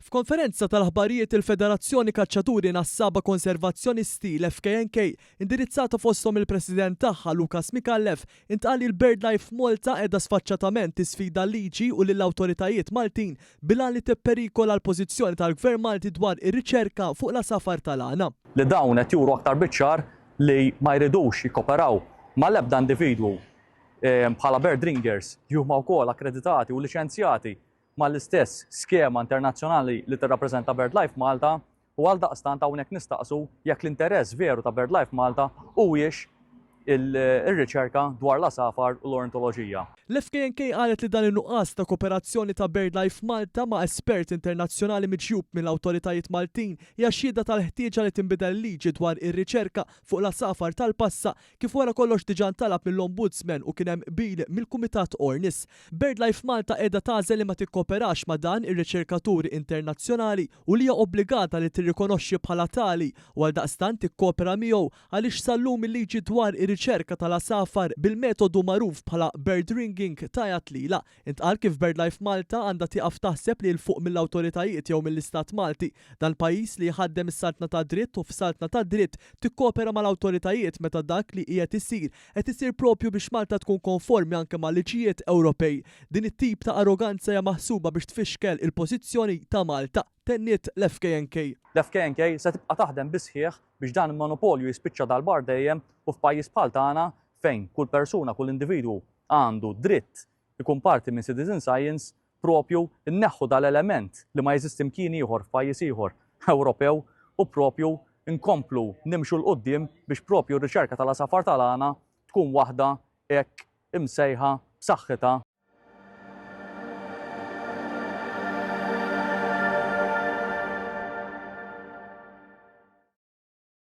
F'konferenza tal-aħbarijiet il-Federazzjoni Kaċċaturi Nassaba Konservazzjonisti, l-FKNK, indirizzata fosthom il-President tagħha, Lucas Micallef, intqal li l-birdlife f'Malta qiegħda sfaċċatament tisfida l-liġi u lill-awtoritajiet Maltin bil-għan li tipperikola l-pożizzjoni tal-Gvern Malti dwar ir-riċerka fuq l-għasafar tal-għana. li dawn qed juru aktar biċ-ċar li ma jridux jikkoperaw mal-ebda individwu bħala bird ringers li huma wkoll akkreditati u liċenzjati mal-istess skema internazzjonali li tirrappreżenta BirdLife Malta u għaldaqstant hawnhekk nistaqsu jekk l-interess veru ta' BirdLife Malta huwiex ir-riċerka dwar l-għasafar u l-ornitoloġija. L-FKNK qalet li dan in-nuqqas ta' koperazzjoni ta' BirdLife Malta ma' espert internazzjonali miġjub mill-awtoritajiet Maltin hija xhieda tal-ħtieġa li tinbidel il-liġi dwar ir-riċerka fuq l-għasafar tal-passa Kif wara kollox diġà ntalab mill-Ombudsman u kien hemm qbil mill-Kumitat ORNIS, BirdLife Malta qiegħda tagħżel li ma tikkooperax ma' dan ir-riċerkatur internazzjonali u li hija obbligata li tirrikonoxxi bħala tali u għaldaqstant tikkoopera miegħu għaliex sal-lum il-liġi dwar ir-riċerka tal-għasafar bil-metodu magħruf bħala bird ringing tgħajjat lilha Intqal kif BirdLife Malta għandha tieqaf taħseb li 'l fuq mill-awtoritajiet jew mill-Istat Malti, dan pajjiż li jħaddem is-saltna tad-dritt u f'saltna tad-dritt tikkopera mal-awtoritajiet meta dak li qiegħed isir qed isir proprju biex Malta tkun konformi anke mal-liġijiet Ewropej. Din it-tip ta' arroganza hija maħsuba biex tfixkel il-pożizzjoni ta' Malta, tenniet l-FKNK. L-FKNK se tibqa' taħdem bis-sħiħ biex dan il-monopolju jispiċċa darba għal dejjem u f'pajjiż bħal tagħna fejn kull persuna, kull individwu għandu dritt ikun parti minn citizen science, proprju nneħħu dal-element li ma jeżisti mkien ieħor f'pajjiż ieħor Ewropew u proprju nkomplu nimxu 'l quddiem biex proprju r-riċerka tal-għasafar tal-għana tkun waħda hekk imsejħa b'saħħitha